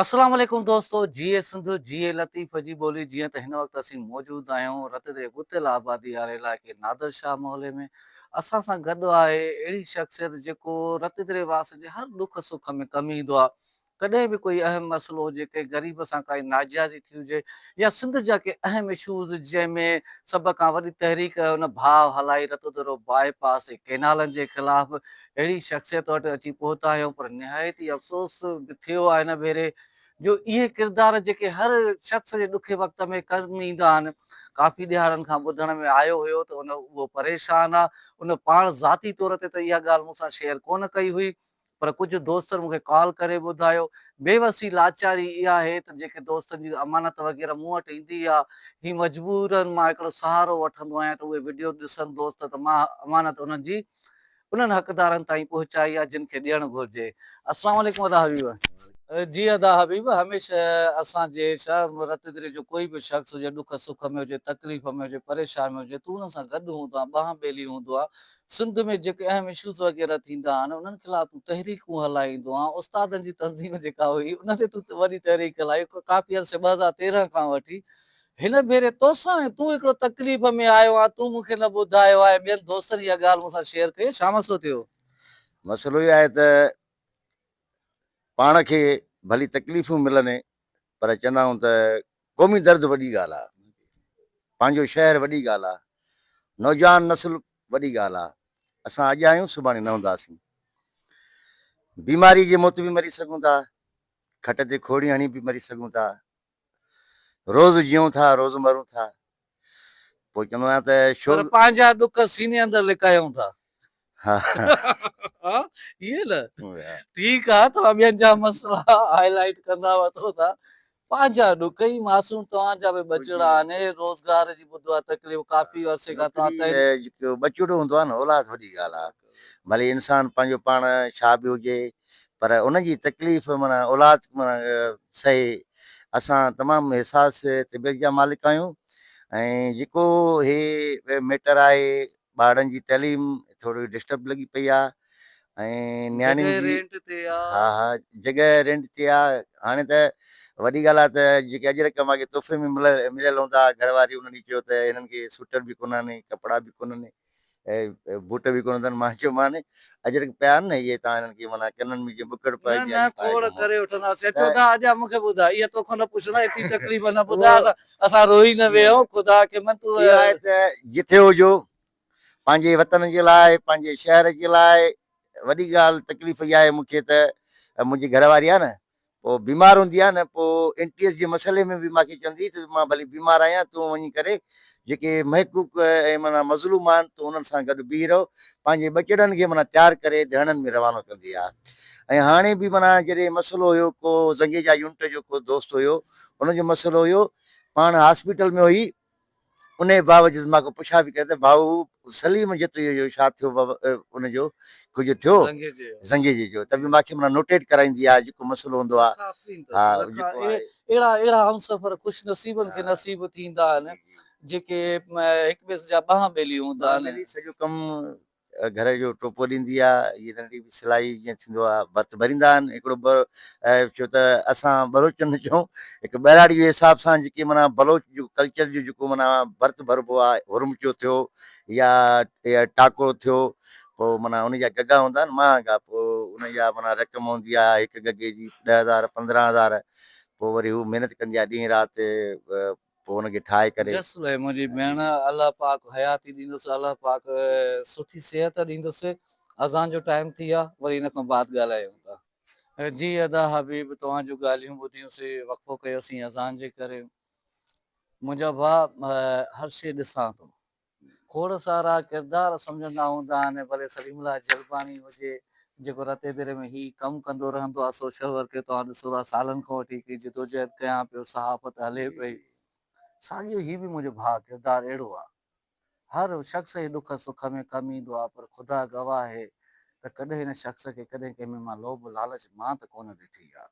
اسلام عليڪم دوستو جيئي سنڌ جيئي لطيف جي ٻولي جيئن ته هن وقت اسين موجود آهيون رت جي ڳتيل آبادي واري علائقي نادر شاهه محلي ۾ اسان سان گڏ آهي اهڙي شخصيت جيڪو رت جي رهواسين جي هر ڏک سک ۾ ڪم ايندو آهي ڪڏهن به ڪوئي اهم مسئلو هجي ڪنهن غريب سان ڪائي ناجائزي ٿي هجي يا سنڌ جا ڪي اهم اشوز جنهن ۾ سڀ کان وڏي تحريڪ هن ڀاء هلائي رت درو باء پاس ۽ ڪينالن جي خلاف اهڙي شخصيت وٽ اچي پهتا آهيون پر نهايت ئي افسوس به ٿيو آهي هن ڀيري جو اهي ڪردار جيڪي هر شخص جي ڏکي وقت ۾ ڪم ايندا آهن ڪافي ڏهاڙن کان ٻڌڻ ۾ آيو هيو ته ان اهو پريشان آ ان پاڻ ذاتي طور تي ته اها ڳالهه مون سان شيئر ڪونه ڪئي هئي پر ڪجهه دوستن مون کي ڪال ڪري ٻڌايو بيوسي لاچاري اها آهي ته جيڪي دوستن جي امانت وغيره مون وٽ ايندي آ هي مجبورن مان هڪڙو سهارو وٺندو آهيان ته اهي وڊيو ڏسن دوست ته مان امانت انهن جي انهن حقدارن تائين پهچائي يا جن کي ڏيڻ گهرجي. السلام عليڪم ادا حبيب. جي ادا حبيب هميشه اسان جي شهر م رت دري جو ڪوئي به شخص هجي ڏک سک ۾ هجي تڪليف ۾ هجي پريشان ۾ هجي تون انهن سان گڏ هوندو آهين ٻانهن ٻيلي هوندو آهين سنڌ ۾ جيڪي اهم اشوز وغيره ٿيندا آهن انهن خلاف تون تحريڪون هلائيندو آهين استادن جي تنظيم جيڪا هئي ان تي تون وڏي تحريڪ هلائي ڪافي عرصي ٻه هزار تيرنهن کان وٺي هن ڀيري توسان ۽ تون هڪڙو تڪليف ۾ آيو آهين تون مون کي نه ٻڌايو آهي ٻين دوستن اها ڳالهه مون سان شيئر ڪئي ڇا مسئلو ٿيو؟ مسئلو هي آهي ته پاڻ کي ڀلي تڪليفون ملن پر چوندا آهيون ته قومي درد وڏي ڳالهه آهي پنهنجو شهر وڏي ڳالهه آهي نوجوان نسل وڏي ڳالهه آهي اسان اڄ آهيون سڀاڻي نه هونداسين بيماري جي موت به مري سگهون ٿا کٽ تي کوڙي هڻي به مري سگهون ٿا روز جيئون ٿا روز مرون ٿا پوء چوندو آهيان ته شو پر پنهنجا ڏک سيني اندر لڪايون ٿا ها ها ائين نه ٺيڪ آهي توهان ٻين جا مسئلا هائي لائيٽ ڪندا وٺو ٿا پنهنجا ڏک اي معصوم توهان جا به ٻچڙا آهن اهي روزگار جي ٻڌو آهي تڪليف ڪافي عرصي کان توهان تحريڪ ٻچڙو هوندو آهي نه اولاد وڏي ڳالهه آهي ڀلي انسان پنهنجو پاڻ ڇا به هجي پر ان جي تڪليف معنيٰ اولاد معنيٰ سهي. اسان تمام حساس طبيعت جا مالڪ آهيون ۽ جيڪو هي ميٽر آهي ٻارڙن جي تعليم ٿورڙي ڊسٽرب لڳي پئي آهي ۽ نياڻي جي جڳهه رينٽ تي آ. ها ها جڳهه رينٽ تي آ هاڻي ته وڏي ڳالهه آ ته جيڪي اڄ رقم اڳي تحفي ۾ مليل هوندا ها گهر واري انهن ئي چيو ته هنن کي سوٽر به ڪونهن ڪپڙا به ڪونهن ۽ بوٽ به ڪونه اٿن. مان چيو مان اجرڪ پيا آهن نه اهي تان هنن کي معنيٰ ڪنن ۾ جيئن ٻڪڙ پئجي ۽ پائي گهمون. نه نه کوڙ ڪري وٺنداسين. چون ٿا اڄان مون کي ٻڌاء اها توکان نه پڇندا ايتري تڪليف نه ٻڌاء اسان روئي نه ويهون خدا کي من تون. اها آهي ته جٿي هجو پنهنجي وطن جي لاء پنهنجي شهر جي لاء وڏي ڳالهه تڪليف اها آهي مون کي ته منهنجي گهر واري آهي نه پوء بيمار هوندي آ نه پوء اينٽي ايس جي مسئلي ۾ به مان کي چوندي هئي ته مان ڀلي بيمار آهيان تون وڃي ڪري جيڪي محقوق ۽ معنيٰ مظلوم آهن تون انهن سان گڏ بيهي رهو پنهنجي ٻچڙن کي معنيٰ تيار ڪري ڌڻن ۾ روانو ڪندي آ ۽ هاڻي به معنيٰ جڏهن مسئلو هيو ڪو زنگيجا يونٽ جو ڪو دوست هيو ان جو مسئلو هيو پاڻ هاسپيٽل ۾ هئي انهيء باوجود مان کان پڇا به ڪيا ته ڀائو سليم جتوئيء جو ڇا ٿيو ان جو ڪجهه ٿيو زنگيجي جو ته به مان کي معنيٰ نوٽيٽ ڪرائيندي آ جيڪو مسئلو هوندو آ ها جيڪو آهي اهڙا اهڙا همسفر خوش نصيبن کي نصيب ٿيندا آهن جيڪي هڪٻئي جا ٻانهن ٻيلي هوندا آهن سڄو ڪم گهر جو ٽوپو ڏيندي آ هي ننڍي به سلائي جيئن ٿيندو آ ڀرت ڀريندا آهن هڪڙو ٻه ڇو ته اسان ٻروچ نه چئون هڪ ٻهراڙي جي حساب سان جيڪي معنيٰ بلوچ جو ڪلچر جو جيڪو معنيٰ ڀرت ڀربو آ هرمچو ٿيو يا ٽاڪو ٿيو پو معنيٰ ان جا گگا هوندا آهن مهانگا پو ان جا معنيٰ رقم هوندي آ هڪ گگي جي ڏهه هزار پندرهن هزار پو وري هو محنت ڪندي آ ڏينهن رات پوء ان کي ٺاهي ڪري. جس ويء منهنجي ڀيڻ، الله پاڪ حياتي ڏيندس، الله پاڪ سٺي صحت ڏيندس، اذان جو ٽائيم ٿي ويو آهي، وري ان کان بعد ڳالهايون ٿا. جي ادا حبيب، توهان جون ڳالهيون ٻڌيون سي، وقفو ڪيو سين اذان جي ڪري، منهنجا ڀاء هر شيء ڏسان ٿو، کوڙ سارا ڪردار سمجهندا هوندا آهن ڀلي سليم الله جلباڻي هجي جيڪو رتي ديري ۾ هي ڪم ڪندو رهندو آهي سوشل ورڪ جو توهان ڏسو ٿا سالن کان وٺي هڪڙي جدوجهد ڪيان پيو صحافت هلي پئي ساڳيو هي به منهنجو ڀاء ڪردار اهڙو آهي هر شخص جي ڏک سک ۾ ڪم ايندو آهي پر خدا گواهه هي ته ڪڏهن هن شخص کي ڪڏهن ڪنهن ۾ مان لوڀ لالچ مان ته ڪونه ڏٺي آ.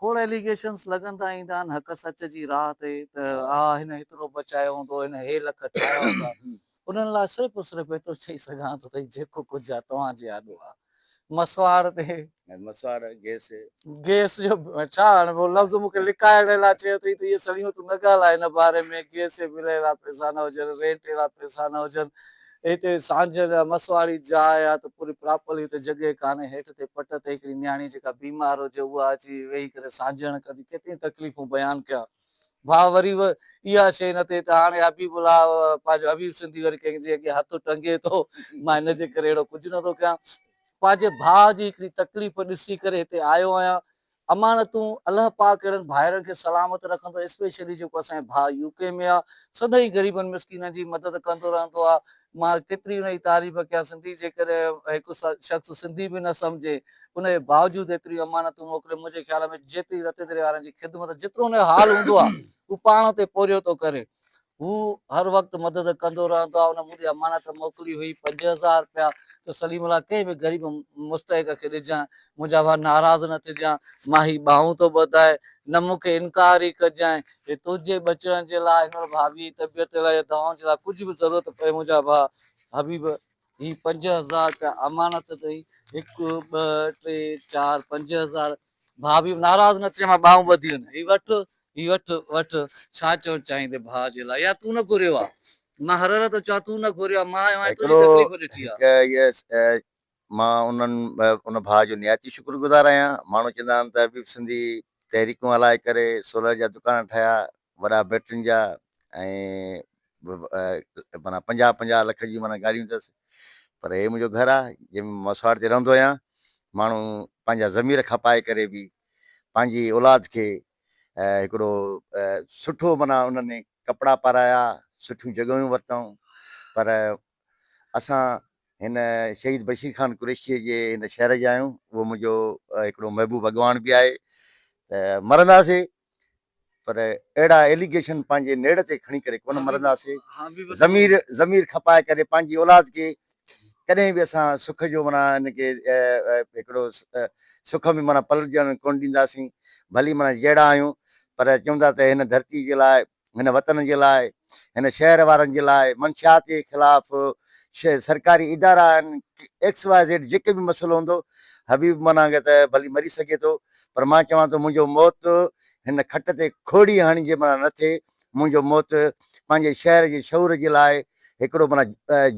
کوڙ ايليگيشنس لڳندا ايندا آهن حق سچ جي راهه تي ته آ هن هيترو بچايو هوندو هن هي لک ٺاهيا هوندا انهن لاء صرف و صرف ايترو چئي سگهان ٿو ته جيڪو ڪجهه آ توهان جي آڏو آ مسواڙ تي مسواڙ گيس گيس جو ڇا هاڻي اهو لفظ مون کي لڪائڻ لاء چيو اٿئي ته اهي سڙيون تون نه ڳالهاء هن باري ۾ گيس جي بل اهڙا پئسا نه هجن رينٽ اهڙا پئسا نه هجن هتي سانجهه لاء مس واري جاء آ ته پوري پراپرلي هتي جڳهه ڪانهي، هيٺ تي پٽ تي هڪڙي نياڻي جيڪا بيمار هجي اها اچي ويهي ڪري سانجهڻ ڪندي ڪيتريون تڪليفون بيان ڪيان ڀاء وري به اها شيء نه ٿئي ته هاڻي حبيب الله پنهنجو حبيب سنڌي وري ڪنهن جي اڳيان هٿ ٽنگي ٿو مان هن جي ڪري اهڙو ڪجهه نه ٿو ڪيان پنهنجي ڀاء جي هڪڙي تڪليف ڏسي ڪري هتي آيو آهيان امانتون، الله پاڪ اهڙن ڀائرن کي سلامت رکندو اسپيشلي جيڪو اسان جي ڀاء يو ڪي ۾ آ سدائين غريبن مسڪينن جي مدد ڪندو رهندو آ مان ڪيتري انهن جي تعريف ڪيان سنڌي جيڪڏهن هڪ شخص سنڌي به نه سمجهي ان جي باوجود ايتريون امانتون موڪلي منهنجي خيال ۾ جيتري رتيدري وارن جي خدمت جيترو ان جو حال هوندو آ هو پاڻ اتي پورهيو ٿو ڪري هو هر وقت مدد ڪندو رهندو آهي، هن مون ڏي امانت موڪلي هئي پنج هزار رپيا ته سليم الله ڪنهن به غريب مستحق کي ڏجانء، منهنجا ڀاء ناراض نه ٿجانء، مان هي ٻانهون ٿو ٻڌائي، نه مون کي انڪار ئي ڪجانء، هي تنهنجي ٻچڙن جي لاء، هن وٽ ڀاڀيء جي طبيعت جي لاء يا دوائن جي لاء ڪجهه به ضرورت پئي منهنجا ڀاء حبيب هي پنج هزار رپيا امانت اٿئي. هڪ ٻه ٽي چار پنج هزار. ڀاء به ناراض نه ٿيو مان ٻانهون ٻڌي وڃان. هي وٺ هي وٺ وٺ ڇا چوڻ چاهين ٿي ڀاء جي لاء يا تون نه گهريو آ. مان هرر ٿو چوان تون نه گهريو آ مان آيو آهيان تنهنجي تڪليف ڏٺي آ. مان انهن ان ڀاء جو نهايت ئي شڪر گذار آهيان. ماڻهو چوندا آهن ته حبيب سنڌي تحريڪون هلائي ڪري سولر جا دڪان ٺاهيا وڏا بيٽرين جا ۽ معنيٰ پنجاهه پنجاهه لک جون معنيٰ گاڏيون اٿس پر هي منهنجو گهر آ جنهن ۾ مسواڙ تي رهندو آهيان ماڻهو پنهنجا ضمير کپائي ڪري به پنهنجي اولاد کي هڪڙو سٺو معنيٰ انهن ڪپڙا پارايا سٺيون جڳهيون ورتائون پر اسان هن شهيد بشير خان قريشيء جي هن شهر جا آهيون اهو منهنجو هڪڙو محبوب اڳواڻ به آهي ته مرنداسي پر اهڙا ايليگيشن پنهنجي نيڙ تي کڻي ڪري ڪونه مرنداسي ضمير ضمير کپائي ڪري پنهنجي اولاد کي ڪڏهن به اسان سک جو معنيٰ ان کي هڪڙو سک ۾ معنيٰ پلٽجڻ ڪونه ڏينداسين ڀلي معنيٰ جهڙا آهيون پر چوندا ته هن ڌرتي جي لاء هن وطن جي لاء، هن شهر وارن جي لاء، منشيات جي خلاف، سرڪاري ادارا آهن، ايڪس واء زيڊ جيڪي به مسئلو هوندو، حبيب منا کي ته ڀلي مري سگهي ٿو، پر مان چوان ٿو منهنجو موت هن کٽ تي کوڙي هڻجي منا نه ٿئي، منهنجو موت پنهنجي شهر جي شعور جي لاء هڪڙو منا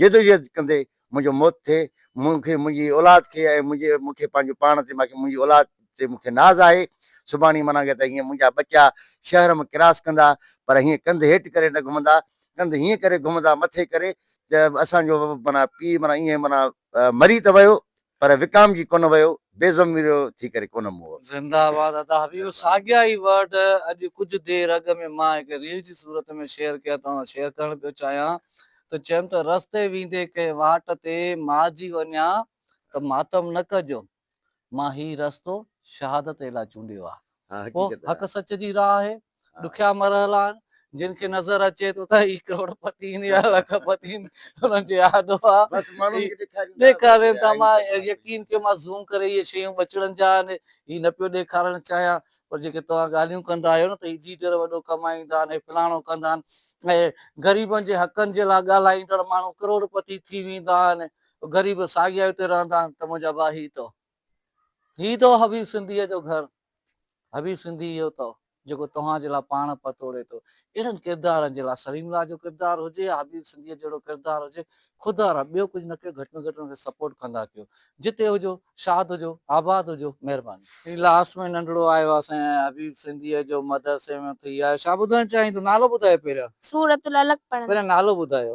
جدوجهد ڪندي منهنجو موت ٿئي، مون کي منهنجي اولاد کي ۽ منهنجي مون کي پنهنجو پاڻ تي ماکي منهنجي اولاد تي مون کي ناز آهي، سڀاڻي منا ڪي ته هيئن منهنجا ٻچا شهر م ڪراس ڪندا پر هيئن ڪنڌ هيٺ ڪري نه گهمندا، ڪنڌ هيئن ڪري گهمندا مٿي ڪري ته اسان جو منا پيء منا ايئن منا مري ته ويو پر وڪام جي ڪونه ويو. بي ضميرو ٿي ڪري ڪونه مئو. زنده آباد ادا حبيب ساڳيا ئي ورڊ اڄ ڪجهه دير اڳ ۾ مان هڪ ريل جي صورت ۾ شيئر ڪيا توهان سان شيئر ڪرڻ پيو چاهيان ته چيم ته رستي ويندي ڪنهن واٽ تي مارجي وڃان ته ماتم نه ڪجو مان هي رستو شهادت لاء چونڊيو آهي پوء حق سچ جي راهه آهي. ڏکيا مرحلا آهن جن کي نظر اچي ٿو ته هي ڪروڙپتين يا لک پتين انهن جي آڏو آ ڏيکارين ٿا مان يقين ڪيو مان زوم ڪري اهي شيون ٻچڙن جا آهن هي نه پيو ڏيکارڻ چاهيان پر جيڪي توهان ڳالهيون ڪندا آهيو نه ته هي ليڊر وڏو ڪمائيندا آهن هي فلاڻو ڪندا آهن ۽ غريبن جي حقن جي لاء ڳالهائيندڙ ماڻهو ڪروڙپتي ٿي ويندا آهن غريب ساڳيا هتي رهندا آهن ته منهنجا ڀاء هي تو هي ٿو حبيب سنڌيء جو گهر، حبيب سنڌي اهو ٿو، جيڪو توهان جي لاء پاڻ پت توڙي ٿو. اهڙن ڪردارن جي لاء سليم لاء جو ڪردار هجي يا حبيب سنڌيء جهڙو ڪردار هجي، خدا را ٻيو ڪجهه نه ڪيو، گهٽ ۾ گهٽ ان کي سپورٽ ڪندا ڪيو. جتي هجو، شاد هجو، آباد هجو. مهرباني. هي لاس ۾ ننڍڙو آيو آ سائين ۽ حبيب سنڌيء جو مدرسي ۾ ٿي آيو. ڇا ٻڌائڻ چاهين ٿو؟ نالو ٻڌايو پهريان. سورة العلق پڙهڻ. پهريان نالو ٻڌايو.